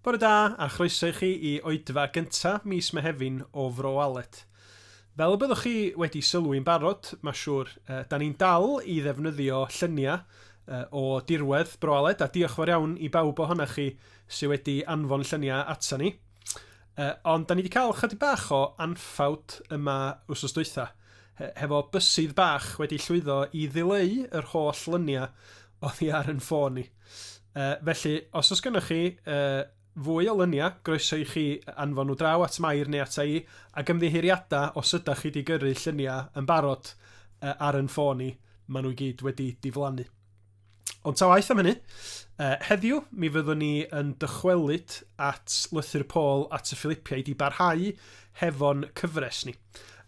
Bore da a chroeso i chi i oedfa gynta mis Mehefin o Fro Alet. Fel y byddwch chi wedi sylwi'n barod, mae siŵr, uh, da ni'n dal i ddefnyddio lluniau uh, o dirwedd Bro Aled a diolch fawr iawn i bawb ohonoch chi sydd wedi anfon lluniau ato ni. Uh, ond da ni wedi cael chydig bach o anffawd yma wrsos dwytha, hefo bysydd bach wedi llwyddo i ddileu yr holl lyniau oddi ar yn ffôn ni. Uh, felly, os oes gennych chi uh, fwy o lyniau, groeso i chi anfon nhw draw at Mair neu at i, ac ymddiheuriadau os ydych chi wedi gyrru lluniau yn barod uh, ar yn ffôn ni, maen nhw i gyd wedi diflannu. Ond ta waeth am hynny, uh, heddiw mi fyddwn ni yn dychwelyd at lythyr Pôl at y Philippiaid i barhau hefo'n cyfres ni.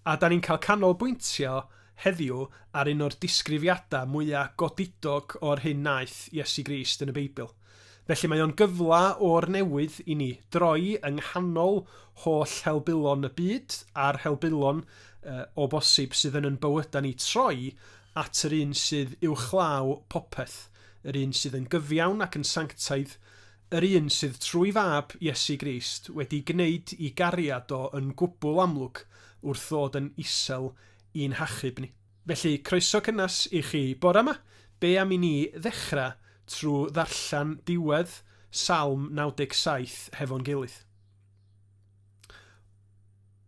A da ni'n cael canolbwyntio heddiw ar un o'r disgrifiadau mwyaf godidog o'r hyn naeth Iesu Grist yn y Beibl. Felly mae o'n gyfla o'r newydd i ni droi yng nghanol holl helbulon y byd a'r helbulon, o bosib, sydd yn yn bywyda ni troi at yr un sydd uwchlaw popeth, yr un sydd yn gyfiawn ac yn sanctaidd, yr un sydd trwy fab, Iesu Grist, wedi gneud i gariad o yn gwbl amlwg wrth ddod yn isel i'n hachub ni. Felly, croeso cynnes i chi bore 'ma. Be am i ni ddechrau trwy ddarllen diwedd Salm 97 hefo'n gilydd?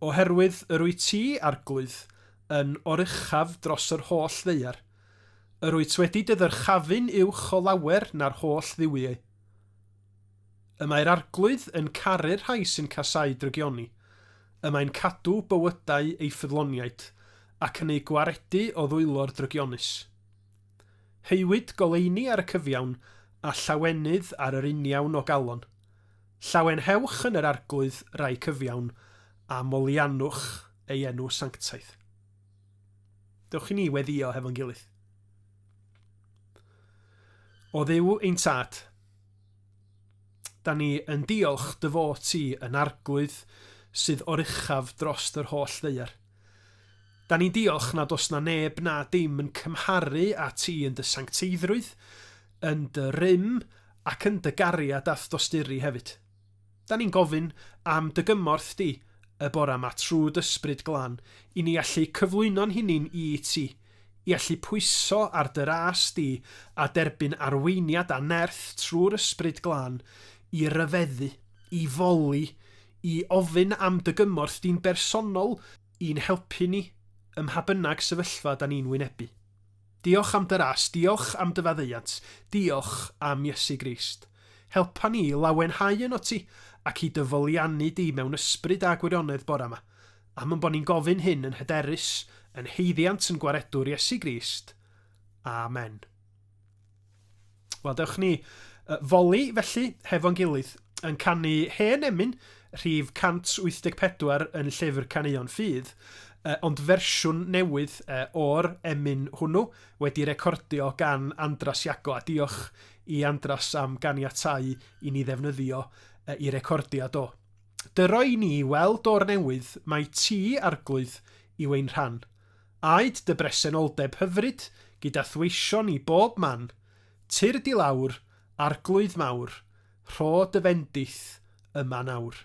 Oherwydd yr wyt ti, Arglwydd, yn oruchaf dros yr holl ddaear, yr wyt wedi dy ddyrchafu'n uwch o lawer na'r holl dduwiau. Y mae'r Arglwydd yn caru'r rhai sy'n casáu drygioni, y mae'n cadw bywydau ei ffyddloniaid, ac yn eu gwaredu o ddwylo'r drygionus. Heuwyd goleuni ar y cyfiawn, a llawenydd ar yr uniawn o galon. Llawenhewch yn yr Arglwydd, rai cyfiawn, a moliannwch ei enw sanctaidd. Dewch i ni weddio hefo'n gilydd. O Dduw ein Tad, Da ni yn diolch dy fod ti yn arglwydd sydd oruchaf drost yr holl ddaear. Da ni'n diolch nad oes na neb na dim yn cymharu â ti yn dy sancteiddrwydd, yn dy rym ac yn dy gariad a'th dosturi hefyd. Da ni'n gofyn am dy gymorth di y bora ma trw d'ysbryd glân i ni allu cyflwyno'n hunin i ti, i allu pwyso ar dy ras di a derbyn arweiniad a nerth trw'r ysbryd glân i ryfeddu, i foli, i ofyn am dy gymorth di'n bersonol i'n helpu ni ym mha bynnag sefyllfa da ni'n wynebu. Diolch am dy ras, diolch am dy faddeuant, diolch am Iesu Grist. Helpa ni i lawenhau yno ti, ac i dy foliannu di mewn ysbryd a gwirionedd bore yma. Am ein bod ni'n gofyn hyn yn hyderus, yn haeddiant yn Gwaredwr Iesu Grist. Amen. Wel, dewch ni uh, foli felly hefo'n gilydd yn canu hen emyn rhif 184 yn llyfr Caneuon Ffydd, uh, ond fersiwn newydd uh, o'r emyn hwnnw wedi recordio gan Andras Iago a diolch i Andras am ganiatau i ni ddefnyddio uh, i recordiad o. Dyro i ni weld o'r newydd mae ti arglwydd i wein rhan. Aed dy bresenoldeb hyfryd gyda thweision i bob man, Tyrd i lawr, Arglwydd mawr, rho dy fendith yma nawr.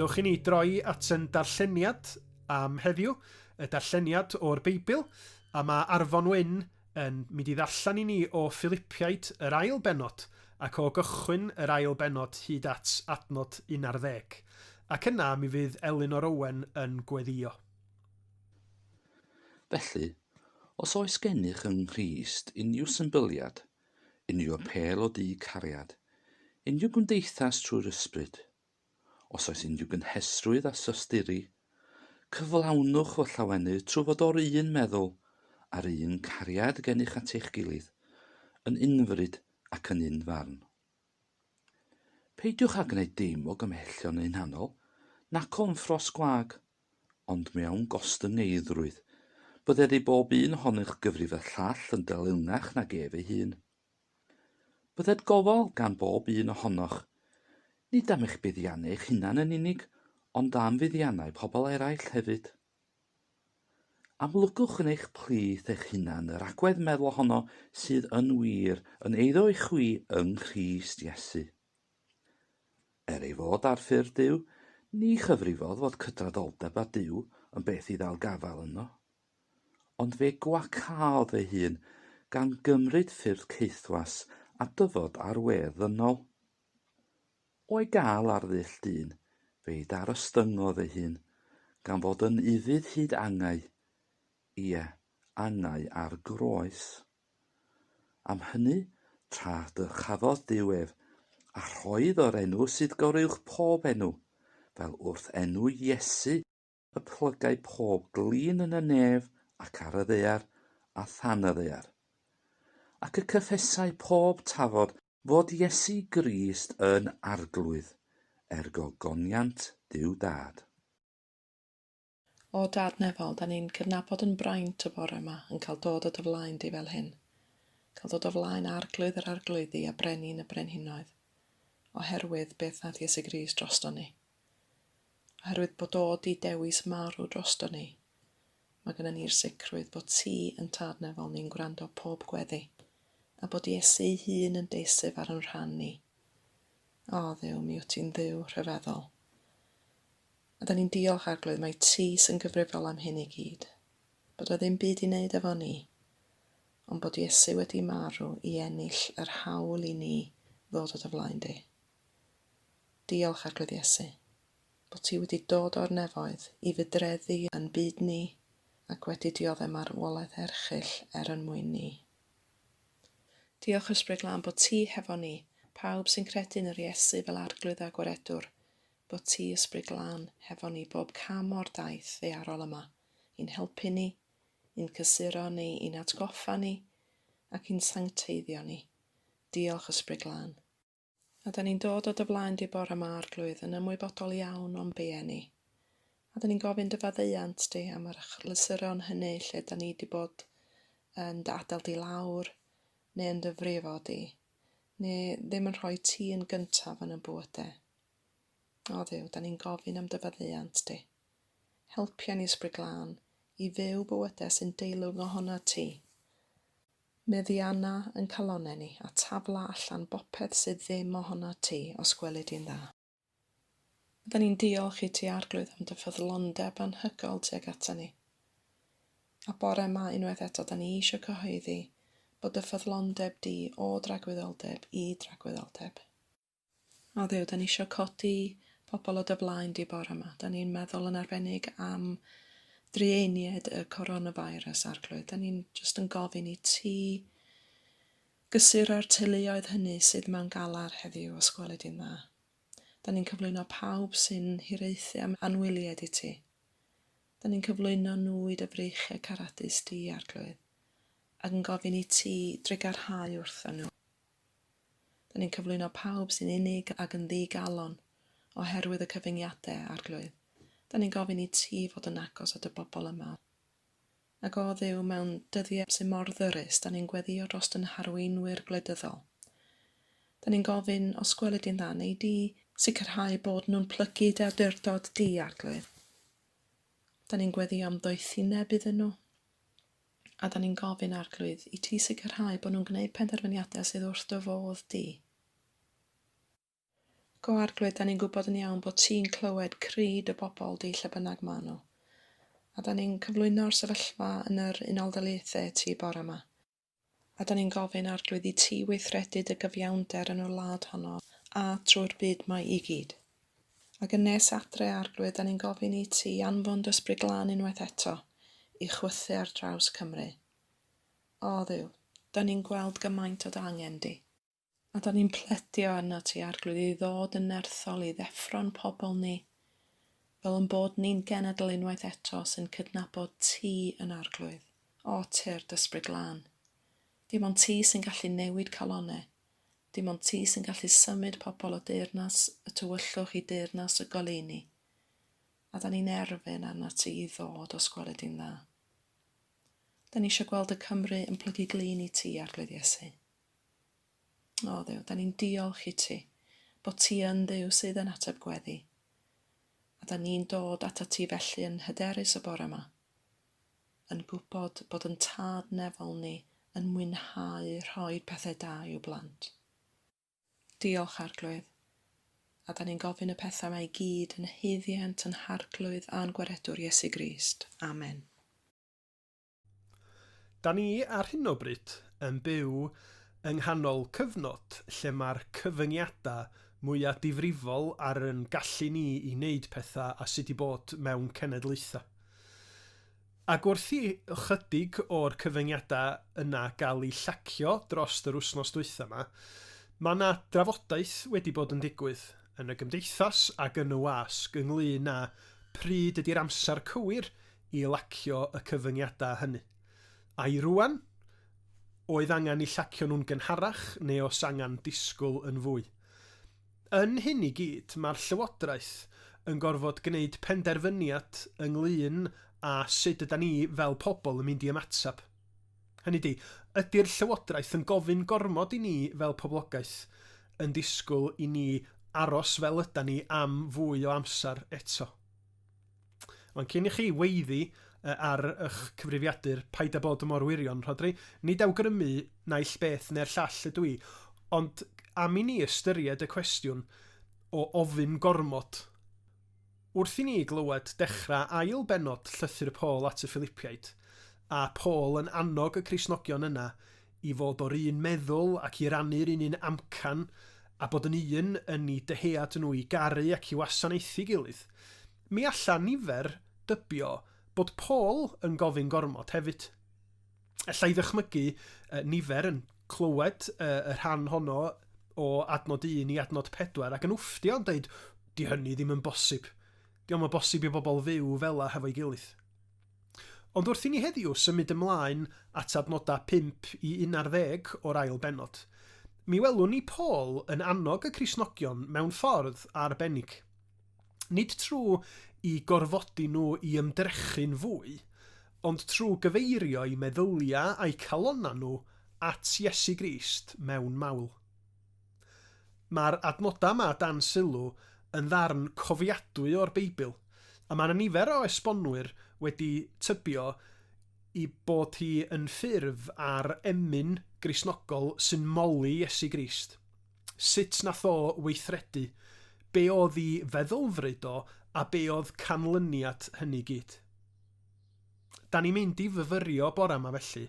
Dewch i ni droi at yn darlleniad am heddiw, y darlleniad o'r Beibl, a mae Arfon Wyn yn mynd i ddarllen i ni o Filipiaid yr ail benod ac o gychwyn yr ail benod hyd at adnod 11. Ac yna mi fydd Elin o'r Owen yn gweddio. Felly, os oes gennych yng Nghrist unrhyw symbyliad, unrhyw apêl o du cariad, unrhyw gymdeithas trwy'r Ysbryd, os oes unrhyw gynhesrwydd a sosturi, cyflawnwch fy llawenydd trwy fod o'r un meddwl a'r un cariad gennych at eich gilydd, yn unfryd ac yn un farn. Peidiwch â gwneud dim o gymhellion hunanol, nac o ymffros gwag, ond mewn gostyngeiddrwydd, bydded i bob un ohony'ch gyfrif y llall yn delyngach nag ef ei hun. Bydded gofal gan bob un ohonoch, nid am eich buddiannau eich hunan yn unig, ond am fuddiannau pobl eraill hefyd. Amlygwch yn eich plith eich hunan yr agwedd meddwl honno sydd yn wir yn eiddo i chwi yng Nghrist Iesu. Er ei fod ar ffurf Duw, ni chyfrifodd fod cydraddoldeb â Duw yn beth i ddal gafael ynddo. Ond fe gwacaodd ei hun gan gymryd ffyrdd caethwas a dyfod ar wedd ddynol. O'i gael ar ddull dyn, fe'i darostyngodd ei hun, gan fod yn ufudd hyd angau, ie, angau ar groes. Am hynny, tra dy chafodd Duw ef, a rhoedd o'r enw sydd goruwch pob enw, fel wrth enw Iesu y plygai pob glin yn y nef ac ar y ddaear a than y ddaear, ac y cyffesai pob tafod fod Iesu Grist yn Arglwydd, ergo goniant Duw Dad. O Dad Nefol, 'da ni'n cydnabod yn braint y bore yma yn cael dod o dy flaen di fel hyn. Cael dod o flaen Arglwydd yr Arglwyddi a Brenin y Brenhinoedd. Oherwydd beth wnaeth Iesu Grist drosto ni. Oherwydd bod o di dewis marw drosto ni. Mae gyda ni'r sicrwydd bod ti yn Tad Nefol ni'n gwrando pob gweddi. A bod Iesu ei hun yn deisif ar yn rhan ni. O, ddew, mi wyt ti'n ddew rhyfeddol. A 'dan ni'n diolch, Arglwydd, mai Ti sy'n gyfrifol am hyn i gyd. Bod o ddim byd i wneud efo ni, ond bod Iesu wedi marw i ennill yr hawl i ni ddod o dy flaen di. Diolch, Arglwydd Iesu, bod ti wedi dod o'r nefoedd i fydreddu yn byd ni ac wedi diodde marwolaeth erchyll er yn mwyn ni. Diolch, Ysbryd Glân, bod ti hefo ni, pawb sy'n credu yn yr Iesu fel Arglwydd a Gwaredwr, bod ti Ysbryd Glân hefo ni bob cam o'r daith ddaearol yma, i'n helpu ni, i'n cysuro ni, i'n atgoffa ni, ac i'n sancteiddio ni. Diolch Ysbryd Glân. A 'dan ni'n dod o dy flaen di bore 'ma, Arglwydd, yn ymwybodol iawn o'n beiau ni. A 'dan ni'n gofyn dy faddeuant di am yr achlysuron hynny lle 'dan ni di bod yn dy adael di lawr, neu yn dy frifo di, neu ddim yn rhoi ti yn gyntaf yn y bywydau. O Dduw, da ni'n gofyn am dy faddeuant di. Helpia ni ysbryd glân i fyw bywydau sy'n deilwng ohona ti. Meddianna yn calonau ni a tafla allan bopeth sydd ddim ohona ti, os gweli di'n dda. Da ni'n diolch i ti, Arglwydd, am dy ffyddlondeb anhygol tuag ata ni. A bore yma, unwaith eto, da ni eisiau cyhoeddi bod dy ffyddlondeb di o dragwyddoldeb i dragwyddoldeb. O Dduw, da ni eisiau codi pobl o dy flaen di bore yma. Da ni'n meddwl yn arbennig am dreieniaid y coronavirus, Arglwydd. Da ni'n just yn gofyn i ti gysuro'r teuluoedd hynny sydd mewn galar heddiw, os gweli di'n dda. Da ni'n cyflwyno pawb sy'n hiraethu am anwyliaid i ti. Da ni'n cyflwyno nhw i dy freichiau caradus di, Arglwydd, ac yn gofyn i ti drigarhau wrthyn nhw. Dyn ni'n cyflwyno pawb sy'n unig ac yn ddi-galon oherwydd y cyfyngiade, Arglwydd. Dyn ni'n gofyn i Ti fod yn agos at y bobl yma. Ac o Dduw, mewn dyddie sy mor ddyrus, dyn ni'n gweddio dros dyn harweinwyr gwleidyddol. Dyn ni'n gofyn, os gweli Di'n dda, wnei Di sicrhau bod nhw'n plygu Dy awdurdod Di, Arglwydd. Dyn ni'n gweddio am ddoethineb iddyn nhw. A 'dan ni'n gofyn, Arglwydd, i ti sicrhau bod nhw'n gwneud penderfyniadau sydd wrth dy fodd di. Go Arglwydd, 'dan ni'n gwybod yn iawn bod ti'n clywed cri dy bobl di lle bynnag maen nhw. A 'dan ni'n cyflwyno'r sefyllfa yn yr Unol Daleithiau ti bore yma. A 'dan ni'n gofyn, Arglwydd, i ti weithredu dy gyfiawnder yn y wlad honno a trwy'r byd mae i gyd. Ac yn nes adre, Arglwydd, 'dan ni'n gofyn i ti anfon dy Ysbryd Glân unwaith eto i chwythu ar draws Cymru. O, Dduw, 'dan ni'n gweld gymaint o dy angen di. A 'dan ni'n pledio arnot ti, Arglwydd, i ddod yn nerthol i ddeffro'n pobl ni, fel yn bod ni'n genedl unwaith eto sy'n cydnabod ti yn Arglwydd. O, Tyrd Ysbryd Glân. Dim ond ti sy'n gallu newid calonau. Dim ond ti sy'n gallu symud pobl o deyrnas y tywyllwch i deyrnas y goleuni, a 'da ni'n erfyn arnat ti i ddod os gwele di'n dda. Da ni eisiau gweld y Cymru yn plygu glin i ti, Arglwydd Iesu. O Dduw, da ni'n diolch i ti bod ti yn Dduw sydd yn ateb gweddi. A da ni'n dod ata ti felly yn hyderus y bore yma, yn gwybod bod yn tad nefol ni yn mwynhau rhoi pethe da i'w blant. Diolch Arglwydd. A da ni'n gofyn y pethau mae i gyd yn haeddiant yn Harglwydd a'n Gwaredwr Iesu Grist. Amen. Da ni ar hyn o bryd yn byw yng nghanol cyfnod lle mae'r cyfyngiadau mwya difrifol ar yn gallu ni i wneud pethau a sut i bod mewn cenedlaethau. Ac wrth i ychydig o'r cyfyngiadau yna gael eu llacio dros yr wythnos dwytha 'ma, mae 'na drafodaeth wedi bod yn digwydd yn y gymdeithas ac yn y wasg ynglŷn â pryd ydi'r amser cywir i lacio y cyfyngiadau hynny. Ai rŵan oedd angen 'u llacio nhw'n gynharach neu os angen disgwyl yn fwy? Yn hyn i gyd, mae'r Llywodraeth yn gorfod gwneud penderfyniad ynglŷn â sut ydan ni fel pobl yn mynd i ymateb. Hynny ydi, ydi'r Llywodraeth yn gofyn gormod i ni fel poblogaeth, yn disgwyl i ni aros fel ydan ni am fwy o amser eto? Ond cyn i chi weiddi ar eich cyfrifiadur, paid â bod mor wirion, Rhodri. Nid awgrymu naill beth neu'r llall ydw i, ond am i ni ystyried y cwestiwn o ofyn gormod. Wrth i ni glywed dechrau ail bennod Llythyr Paul at y Philipiaid, a Paul yn annog y Cristnogion yna i fod o'r un meddwl ac i rannu'r un un amcan, a bod yn un yn i dyhead nhw i garu ac i wasanaethu gilydd. Mi alla nifer dybio bod Paul yn gofyn gormod hefyd. Alla i ddychmygu nifer yn clywed y rhan honno o adnod 1 i adnod 4 ac yn wfftio yn dweud, 'Di hynny ddim yn bosib. Dio'm yn bosib i bobl fyw fela hefo'i gilydd. Ond wrth i ni heddiw symud ymlaen at adnodau 5 i 11 o'r ail bennod, mi welwn ni Paul yn annog y Cristnogion mewn ffordd arbennig. Nid trwy i gorfodi nhw i ymdrechu'n fwy, ond trwy gyfeirio'u meddyliau a'u calonnau nhw at Iesu Grist mewn mawl. Mae'r adnodau yma dan sylw yn ddarn cofiadwy o'r Beibl, a mae 'na nifer o esbonwyr wedi tybio i bod hi yn ffurf ar emyn Gristnogol sy'n moli Iesu Grist, sut nath o weithredu, be' o'dd 'i feddylfryd o a be' o'dd canlyniad hynny gyd. Da ni'n mynd i fyfyrio bore yma felly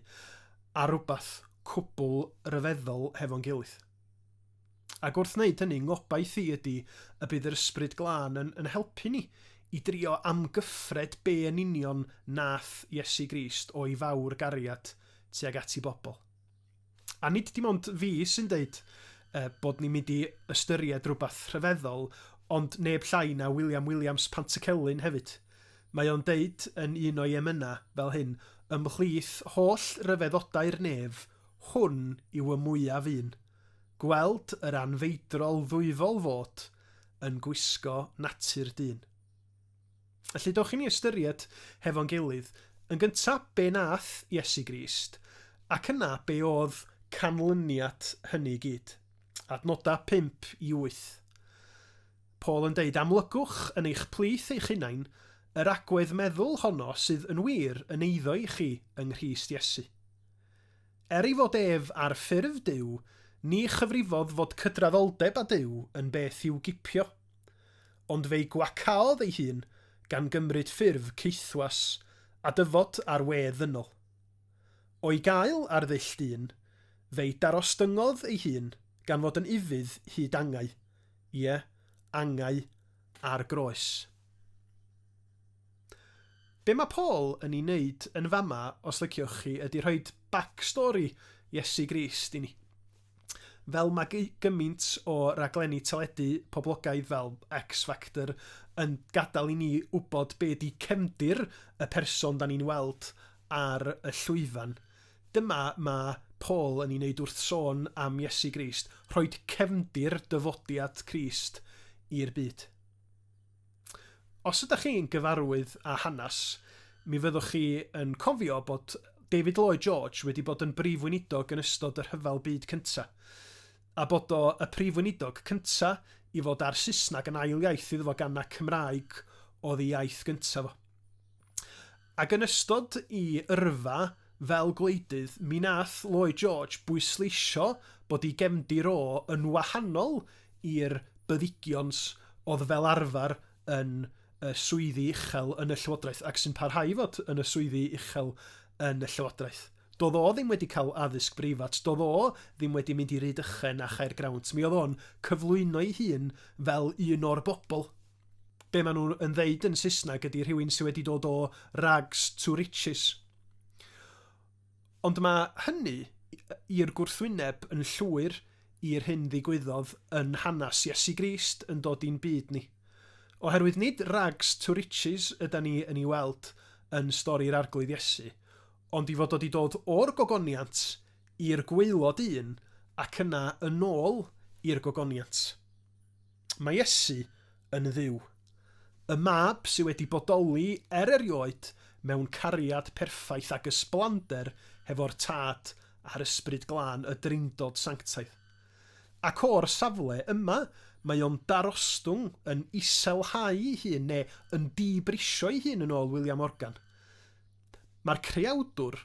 ar rhywbeth cwbl ryfeddol hefo'n gilydd. Ac wrth wneud hynny, ngobaith i ydy y bydd yr ysbryd glân yn, yn helpu ni i drio amgyffred be yn union nath Iesu Grist o'i fawr gariad tuag at i bobl. A nid dim ond fi sy'n deud uh, bod ni'n mynd i ystyried rhywbeth rhyfeddol, ond neb llai na William Williams Pantycelyn hefyd. Mae o'n deud yn un o'i emynau fel hyn, ymhlith holl ryfeddodau'r nef, hwn yw y mwyaf un. Gweld yr anfeidrol ddwyfol fod yn gwisgo natur dyn. Felly, dewch i ni ystyried hefo'n gilydd, yn gyntaf, be nath Iesu Grist, ac yna be oedd canlyniad hynny i gyd. Adnodau 5 i 8. Paul yn deud, Amlygwch yn eich plith eich hunain yr agwedd meddwl honno sydd yn wir yn eiddo i chi yng Nghrist Iesu. Er ei fod ef ar ffurf Duw, ni chyfrifodd fod cydraddoldeb â Duw yn beth i'w gipio. ond fe'i gwacaodd ei hun gan gymryd ffurf caethwas a dyfod ar wê ddynol. O'i gael ar ddull dyn, fe'i darostyngodd ei hun gan fod yn ufudd hyd angau, ie, angau ar groes. Be mae Paul yn ei wneud yn fama os liciwch chi ydy rhoid back story Iesu Grist i ni. fel mae gymaint o raglenni teledu poblogaidd fel X Factor yn gadael i ni wybod be di cefndir y person da ni'n weld ar y llwyfan. Dyma mae Paul yn ei wneud wrth sôn am Iesu Grist, rhoid cefndir dyfodiad Crist i'r byd. os ydych chi'n gyfarwydd â hanes, mi fyddwch chi yn cofio bod David Lloyd George wedi bod yn brif weinidog yn ystod y Rhyfel Byd Cyntaf, a bod o y prif weinidog cyntaf i fod â'r Saesneg yn ail iaith iddo fo gan na Cymraeg oedd ei iaith gyntaf o. Ac yn ystod i yrfa fel gwleidydd mi nath Lloyd George bwysleisio bod i gefndir o yn wahanol i'r byddigions odd fel arfar yn y swyddi uchel yn y llywodraeth ac sy'n parhau i fod yn y swyddi uchel yn y llywodraeth. Dodd o ddim wedi cael addysg breifat, dodd o ddim wedi mynd i Rhydychen a Chaergrawnt, mi odd o'n cyflwyno'i hun fel un o'r bobl. be maen nhw yn ddeud yn Saesneg ydy rhywun sydd wedi dod o rags to riches. Ond mae hynny i'r gwrthwyneb yn llwyr i'r hyn ddigwyddodd yn hanes Iesu Grist yn dod i'n byd ni. Oherwydd nid rags to riches yda ni yn ei weld yn stori'r Arglwydd Iesu, ond i fod wedi dod o'r gogoniant i'r gwaelod un ac yna yn ôl i'r gogoniant. Mae Iesu yn Dduw. Y Mab sydd wedi bodoli er erioed mewn cariad perffaith ac ysblander hefo'r Tad a'r Ysbryd Glân, y Drindod Sanctaidd. Ac o'r safle yma, mae o'n darostwng, yn iselhau'i hun, neu yn dibrisio ei hun yn ôl William Morgan. Mae'r creawdwr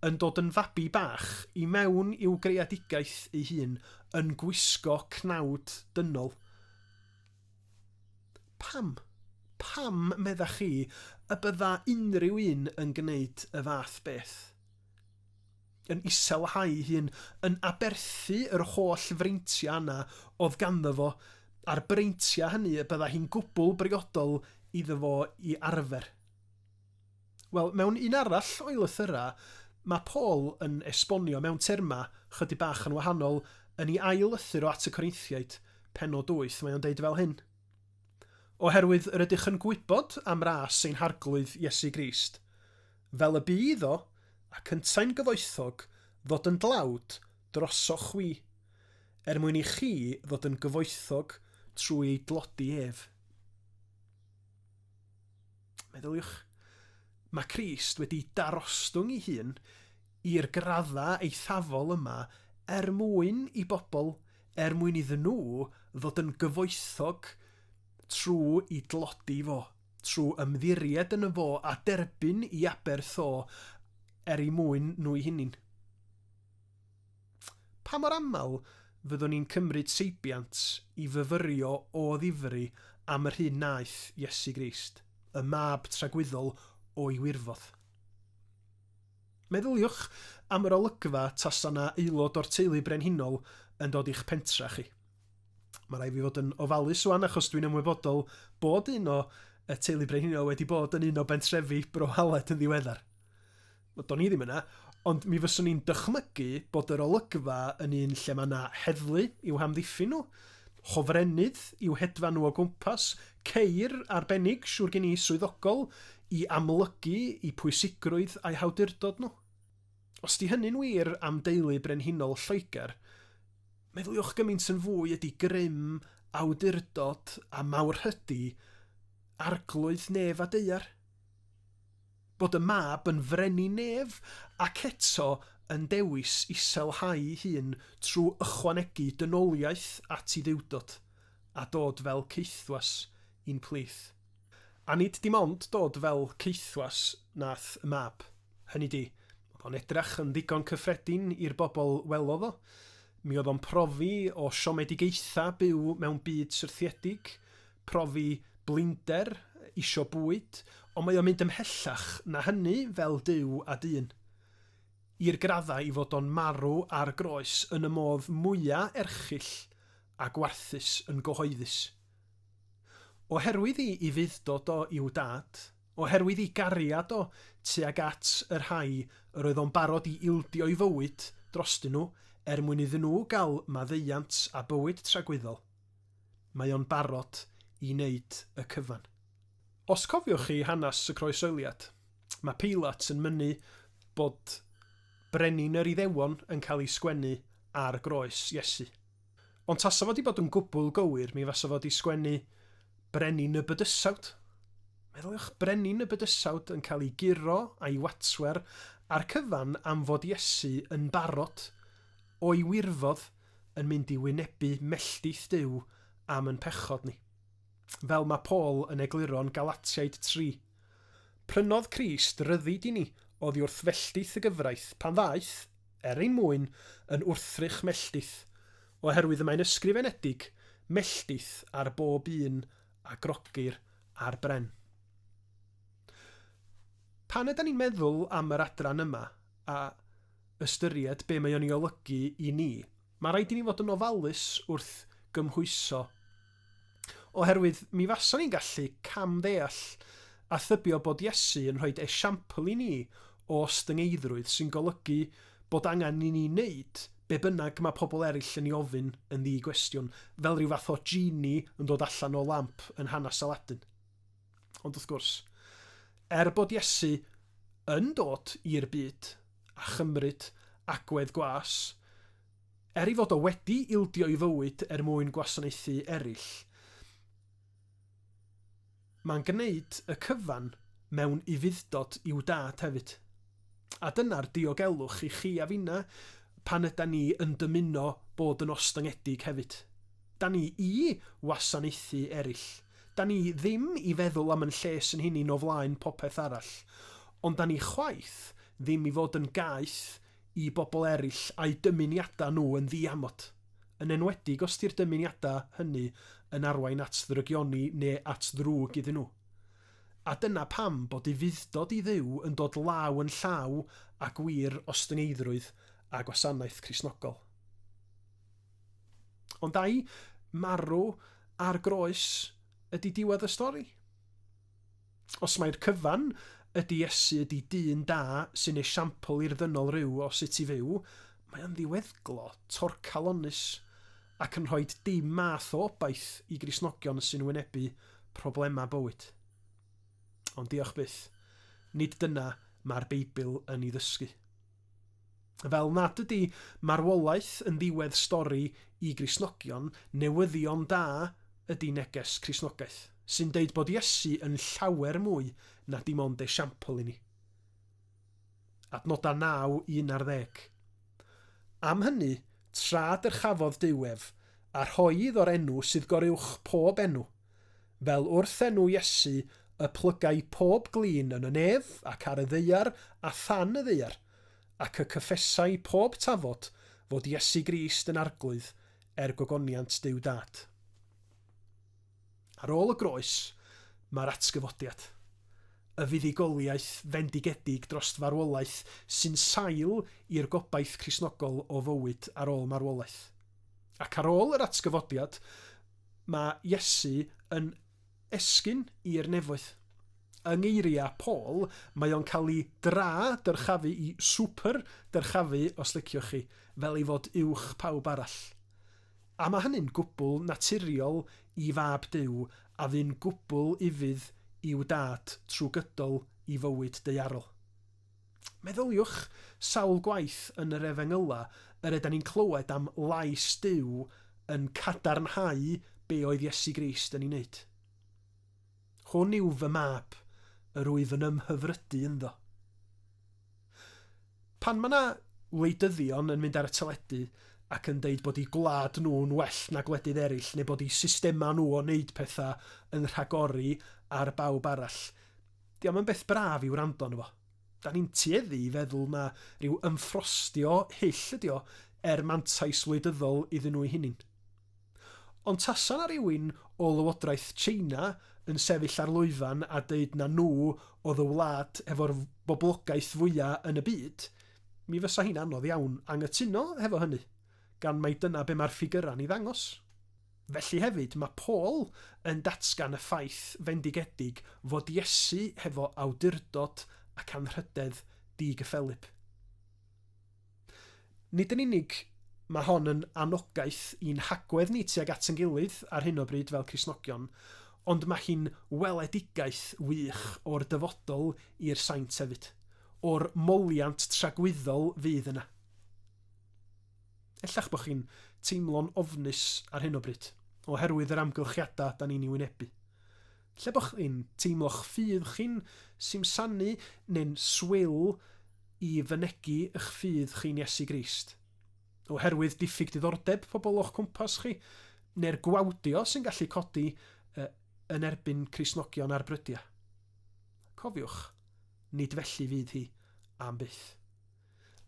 yn dod yn fabi bach i mewn i'w greadigaeth ei hun, yn gwisgo cnawd dynol. Pam? Pam, meddach chi, y bydda unrhyw un yn gwneud y fath beth? Yn iselhau'i hun, yn aberthu yr holl freintiau yna oedd ganddo fo, a'r breintiau hynny y bydda hi'n gwbl briodol iddo fo i arfer. Wel, mewn un arall o'i lythyrau, mae Paul yn esbonio mewn termau chydig bach yn wahanol yn ei ail lythyr o At y Corintiaid, pennod 8, mae o'n deud fel hyn, Oherwydd yr ydych yn gwybod am ras ein Harglwydd Iesu Grist, fel y bu iddo, ac yntau'n gyfoethog, ddod yn dlawd drosoch chwi, er mwyn i chi ddod yn gyfoethog trwy ei dlodi ef. Meddyliwch, mae Crist wedi darostwng ei hun i'r graddau eithafol yma er mwyn i bobl, er mwyn iddyn nhw ddod yn gyfoethog trwy i dlodi fo, trwy ymddiried yn y fo a derbyn i aberth o er eu mwyn nhw'u hunin. Pa mor aml fyddwn ni'n cymryd seibiant i fyfyrio o ddifri am yr hyn wnaeth Iesu Grist, y Mab tragwyddol o'i wirfodd? Meddyliwch am yr olygfa tasa 'na aelod o'r teulu brenhinol yn dod i'ch pentra chi. Mae rhaid fi fod yn ofalus wan achos dwi'n ymwybodol bod un o y teulu brenhinol wedi bod yn un o bentrefi Bro Aled yn ddiweddar. Wel, do'n i ddim yna, ond mi fyswn i'n dychmygu bod yr olygfa yn un lle mae yna heddlu i'w hamddiffyn nhw, hofrennydd i'w hedfan nhw o gwmpas, ceir arbennig, siŵr gen i, swyddogol, i amlygu i pwysigrwydd a'i hawdurdod nhw. Os di hynny'n wir am deulu brenhinol Lloegr, meddyliwch gymaint yn fwy ydy grym, awdurdod a mawrhydi Arglwydd nef a deuar. Bod y mab yn frenin nef ac eto yn dewis iselhau'i hun trwy ychwanegu dynoliaeth at ei dduwdod, a dod fel caethwas i'n plith. A nid dim ond dod fel caethwas nath y mab, hynny 'di, oedd o'n edrach yn ddigon cyffredin i'r bobl welodd o, mi oedd o'n profi o siomedigaetha byw mewn byd syrthiedig, profi blinder, isio bwyd, ond mae o'n mynd ymhellach na hynny fel Duw a dyn. I'r graddau ei fod o'n marw ar groes yn y modd mwya' erchyll a gwarthus yn gyhoeddus. Oherwydd i i fudd-dod o i'w Dad, oherwydd i gariad o tuag at y rhai yr oedd o'n barod i ildio'i fywyd drostyn nhw er mwyn iddyn nhw gael maddeuant a bywyd tragwyddol. mae o'n barod i wneud y cyfan. Os cofiwch chi hanes y Croeshoeliad, mae Peilat yn mynnu bod Brenin yr Iddewon yn cael ei sgwennu ar groes Iesu. Ond tasa fo 'di bod yn gwbl gywir, mi fasa fo 'di sgwennu Brenin y Bydysawd. Meddyliwch, Brenin y Bydysawd yn cael ei guro a'i watswer a'r cyfan am fod Iesu yn barod o'i wirfodd yn mynd i wynebu melltith Duw am yn pechod ni. Fel mae Paul yn egluro'n Galatiaid 3, Prynodd Crist ryddid i ni oddi wrth felltith y gyfraith pan ddaeth, er ein mwyn, yn wrthrych melltith, oherwydd y mae'n ysgrifenedig, Melltith ar bob un a grogir ar bren. Pan ydan ni'n meddwl am yr adran yma, a ystyried be mae o'n ei olygu i ni. Mae rhaid i ni fod yn ofalus wrth gymhwyso. Oherwydd mi fasa ni'n gallu cam-ddeall a thybio bod Iesu yn rhoi esiampl i ni o ostyngeiddrwydd sy'n golygu bod angen i ni wneud be bynnag mae pobl eraill yn ei ofyn yn ddi-gwestiwn, fel rhyw fath o genie yn dod allan o lamp yn hanes Aladdin. Ond wrth gwrs, er bod Iesu yn dod i'r byd a chymryd agwedd gwas, er ei fod o wedi ildio ei fywyd er mwyn gwasanaethu eraill, mae'n gwneud y cyfan mewn ufudd-dod i'w Dad hefyd. A dyna'r diogelwch i chi a finna pan ydan ni yn dymuno bod yn ostyngedig hefyd. Da ni i wasanaethu erill. Da ni ddim i feddwl am yn lles yn hunin o flaen popeth arall. Ond da ni chwaith ddim i fod yn gaeth i bobl erill a'u dymuniada nhw yn ddiamod. Yn enwedig os di'r dymuniada hynny yn arwain at ddrygioni neu at ddrwg iddyn nhw. A dyna pam bod ei fuddod i Dduw yn dod law yn llaw â gwir ostyngeiddrwydd a gwasanaeth Cristnogol. Ond ai marw ar groes ydi diwedd y stori? Os mai'r cyfan ydi Iesu ydi dyn da sy'n esiampl i'r ddynol ryw o sut i fyw, mae o'n ddiweddglo torcalonnus ac yn rhoi dim math o obaith i Gristnogion sy'n wynebu problemau bywyd. Ond diolch byth, nid dyna mae'r Beibl yn ei ddysgu. Fel nad ydy marwolaeth yn ddiwedd stori i Gristnogion, newyddion da ydy neges Cristnogaeth, sy'n deud bod Iesu yn llawer mwy na dim ond esiampl i ni. Adnodau 9 i 11. Am hynny, tra dyrchafodd Duw ef, a rhoi iddo'r enw sydd goruwch pob enw, fel wrth enw Iesu y plygai pob glin yn y nef ac ar y ddaear a than y ddaear, ac y cyffesai pob tafod fod Iesu Grist yn Arglwydd, er gogoniant Duw Dad. Ar ôl y groes, mae'r atgyfodiad. Y fuddugoliaeth fendigedig dros farwolaeth sy'n sail i'r gobaith Cristnogol o fywyd ar ôl marwolaeth. Ac ar ôl yr atgyfodiad, mae Iesu yn esgyn i'r nefoedd. Yng ngeiriau Paul, mae o'n cael ei dra dyrchafu i swper dyrchafu, os liciwch chi, fel ei fod uwch pawb arall. A mae hynny'n gwbl naturiol i fab Duw a fu'n gwbl ufudd i'w Dad trwy gydol i fywyd daearol. Meddyliwch sawl gwaith yn yr Efengyla yr ydan ni'n clywed am lais Duw yn cadarnhau be oedd Iesu Grist yn ei wneud. Hwn yw fy mab, yr wyf yn ymhyfrydu ynddo. Pan mae yna wleidyddion yn mynd ar y teledu ac yn deud bod eu gwlad nhw'n well na gwledydd eraill neu bod eu systemau nhw o wneud pethau yn rhagori ar bawb arall, 'di o'm yn beth braf i wrando arno fo. Da ni'n tueddu i feddwl na ryw ymffrostio hyll ydi o er mantais wleidyddol iddyn nhw eu hunain. Ond tasa 'na rywun o lywodraeth China yn sefyll ar lwyfan a deud na nhw oedd y wlad hefo'r boblogaeth fwya' yn y byd, mi fysa hi'n anodd iawn anghytuno hefo hynny, gan mai dyna be' ma'r ffigyrau'n 'i ddangos. Felly hefyd, ma' Paul yn datgan y ffaith fendigedig fod Iesu hefo awdurdod ac anrhydedd di-gyffelyb. Nid yn unig mae hon yn anogaeth i'n hagwedd ni tuag at ein gilydd ar hyn o bryd fel Cristnogion, ond mae hi'n weledigaeth wych o'r dyfodol i'r saint hefyd, o'r moliant tragwyddol fydd yna. Ella'ch bod chi'n teimlo'n ofnus ar hyn o bryd, oherwydd yr amgylchiadau da ni'n ei wynebu. Lle bod chi'n teimlo'ch ffydd chi'n simsanu neu'n swil i fynegi y'ch ffydd chi'n Iesu Grist. Oherwydd diffyg diddordeb pobl o'ch cwmpas chi, neu'r gwawdio sy'n gallu codi yn erbyn Cristnogion ar brydiau. Cofiwch, nid felly fydd hi, am byth.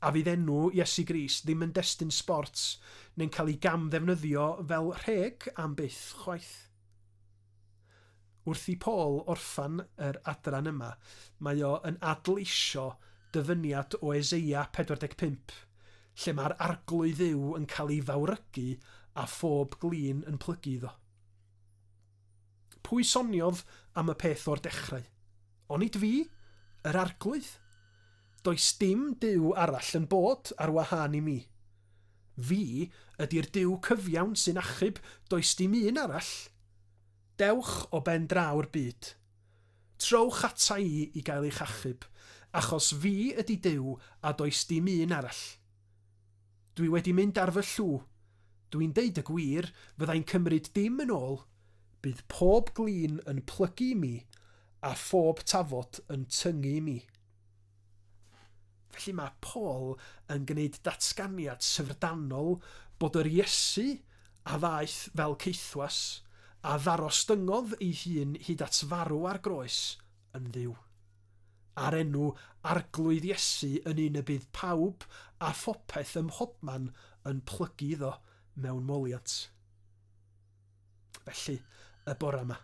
A fydd enw Iesu Grist ddim yn destun sbort neu'n cael ei gam-ddefnyddio fel rheg am byth chwaith. Wrth i Paul orffen yr adran yma, mae o yn adleisio dyfyniad o Eseia 45, lle mae'r Arglwydd Dduw yn cael ei fawrygu a phob glin yn plygu iddo. Pwy soniodd am y peth o'r dechrau? Onid fi? Yr Arglwydd? Does dim Duw arall yn bod ar wahân i mi. Fi ydi'r Duw cyfiawn sy'n achub, does dim un arall. Dewch o ben draw'r byd. Trowch ata i i gael eich achub, achos fi ydi Duw a does dim un arall. Dwi wedi mynd ar fy llw. Dwi'n deud y gwir, fyddai'n cymryd dim yn ôl, bydd pob glin yn plygu i mi a phob tafod yn tyngu i mi. Felly mae Paul yn gwneud datganiad syfrdanol bod yr Iesu a ddaeth fel caethwas, a ddarostyngodd ei hun hyd at farw ar groes, yn Dduw. A'r enw Arglwydd Iesu yn un y bydd pawb a phopeth ym mhobman yn plygu iddo mewn moliant. Felly, y bore yma,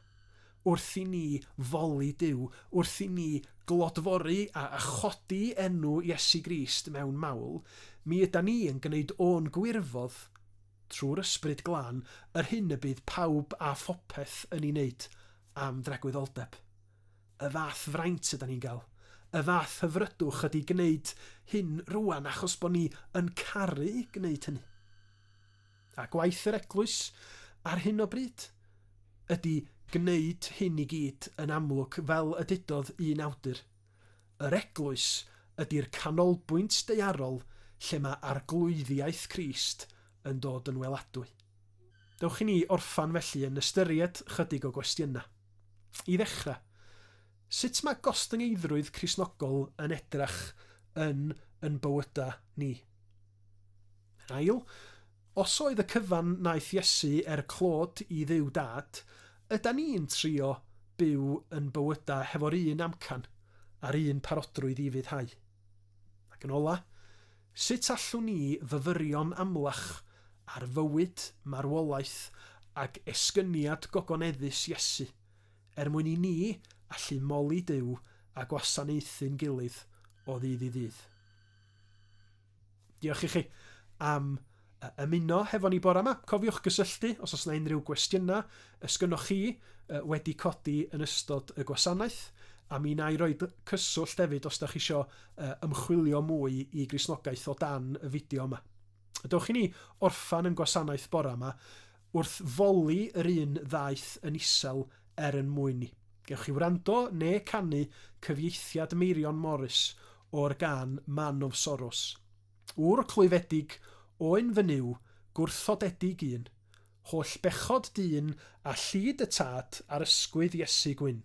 wrth i ni foli Duw, wrth i ni glodfori a chodi enw Iesu Grist mewn mawl, mi ydan ni yn gwneud o'n gwirfodd, trwy'r Ysbryd Glân, yr hyn y bydd pawb a phopeth yn ei wneud am dragwyddoldeb. Y fath fraint ydan ni'n gael, y fath hyfrydwch ydi gwneud hyn rŵan achos bod ni yn caru gwneud hynny. A gwaith yr Eglwys ar hyn o bryd ydy gwneud hyn i gyd yn amlwg fel y dudodd un awdur, Yr Eglwys ydy'r canolbwynt daearol lle mae arglwyddiaeth Crist yn dod yn weladwy. Dewch i ni orffen felly yn ystyried chydig o gwestiynau. I ddechrau, sut mae gostyngeiddrwydd Cristnogol yn edrach yn yn bywydau ni? Yn ail, os oedd y cyfan wnaeth Iesu er clod i Dduw Dad, ydan ni'n trio byw yn bywyda hefo'r un amcan a'r un parodrwydd i fuddhau? Ac yn ola, sut allwn ni fyfyrio'n amlach ar fywyd, marwolaeth ag esgyniad gogoneddus Iesu er mwyn i ni allu moli Duw a gwasanaethu'n gilydd o ddydd i ddydd? Diolch i chi am ymuno hefo ni bore yma. Cofiwch gysylltu os oes yna unrhyw gwestiynau ys gynnwch chi wedi codi yn ystod y gwasanaeth. A mi na i roi cyswllt hefyd os da chi isio ymchwilio mwy i grisnogaeth o dan y fideo yma. Dewch i ni orffan yn gwasanaeth bore yma Wrth foli yr un ddaeth yn isel er yn mwyn i. Gewch chi wrando ne canu cyfieithiad Meirion Morris o'r gân Man of Sorrows. Ŵr clwyfedig, oen fy Nuw, gwrthodedig un, holl bechod dyn a llid y tad ar ysgwydd Iesu gwyn.